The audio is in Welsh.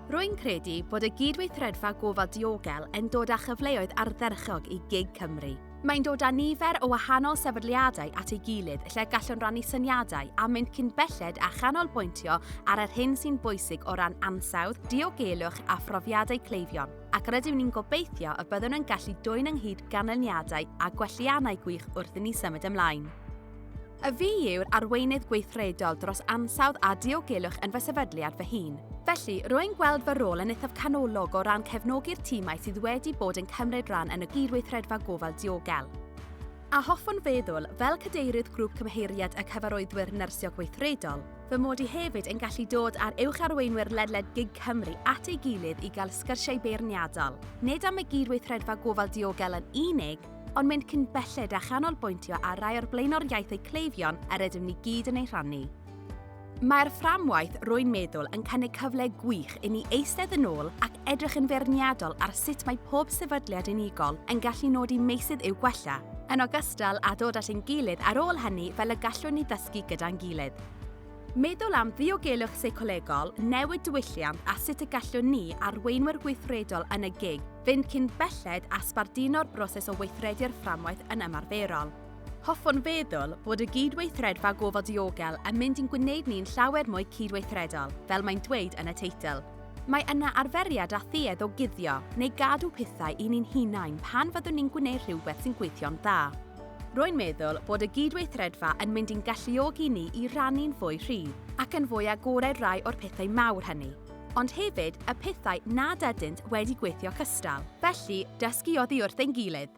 Rwy'n credu bod y Gydweithredfa Gofal Diogel yn dod â chyfleoedd ardderchog i gig Cymru. Mae'n dod â nifer o wahanol sefydliadau at ei gilydd lle gallwn rannu syniadau a mynd cyn belled a chanolbwyntio ar yr hyn sy'n bwysig o ran ansawdd, diogelwch a phrofiadau cleifion, ac rydyn ni'n gobeithio y byddwn yn gallu dwyn ynghyd ganlyniadau a gwelliannau gwych wrth i ni symud ymlaen. A fi yw'r arweinydd gweithredol dros ansawdd a diogelwch yn fy sefydliad fy hun. Felly, rwy'n gweld fy rôl yn eithaf canolog o ran cefnogi'r tîmau sydd wedi bod yn cymryd rhan yn y gydweithredfa gofal diogel. A hoffwn feddwl, fel cadeirydd grŵp cymheiriad y cyfarwyddwyr nyrsio gweithredol, fy mod i hefyd yn gallu dod â'r uwch arweinwyr ledled gig Cymru at ei gilydd i gael sgyrsiau beirniadol, nid am y gydweithredfa gofal diogel yn unig, ond mynd cyn belled a chanolbwyntio ar rai o'r blaenoriaethau cleifion yr ydym ni gyd yn ei rhannu. Mae'r fframwaith rwy'n meddwl yn cynnig cyfle gwych i ni eistedd yn ôl ac edrych yn feirniadol ar sut mae pob sefydliad unigol yn gallu nodi meysydd i'w gwella, yn ogystal â dod at ein gilydd ar ôl hynny fel y gallwn ni ddysgu gyda'n gilydd. Meddwl am ddiogelwch seicolegol, newid diwylliant a sut y gallwn ni, arweinwyr gweithredol yn y gig, fynd cyn belled a sbarduno'r broses o weithredu'r fframwaith yn ymarferol. Hoffwn feddwl bod y gydweithredfa gofal diogel yn mynd i'n gwneud ni'n llawer mwy cydweithredol, fel mae'n dweud yn y teitl. Mae yna arferiad a thuedd o guddio neu gadw pethau i ni'n hunain pan fyddwn ni'n gwneud rhywbeth sy'n gweithio'n dda. Rwy'n meddwl bod y gydweithredfa yn mynd i'n galluogi ni i rannu'n fwy rhydd ac yn fwy agored rai o'r pethau mawr hynny, ond hefyd y pethau nad ydynt wedi gweithio cystal. Felly, dysgu oddi wrth ein gilydd.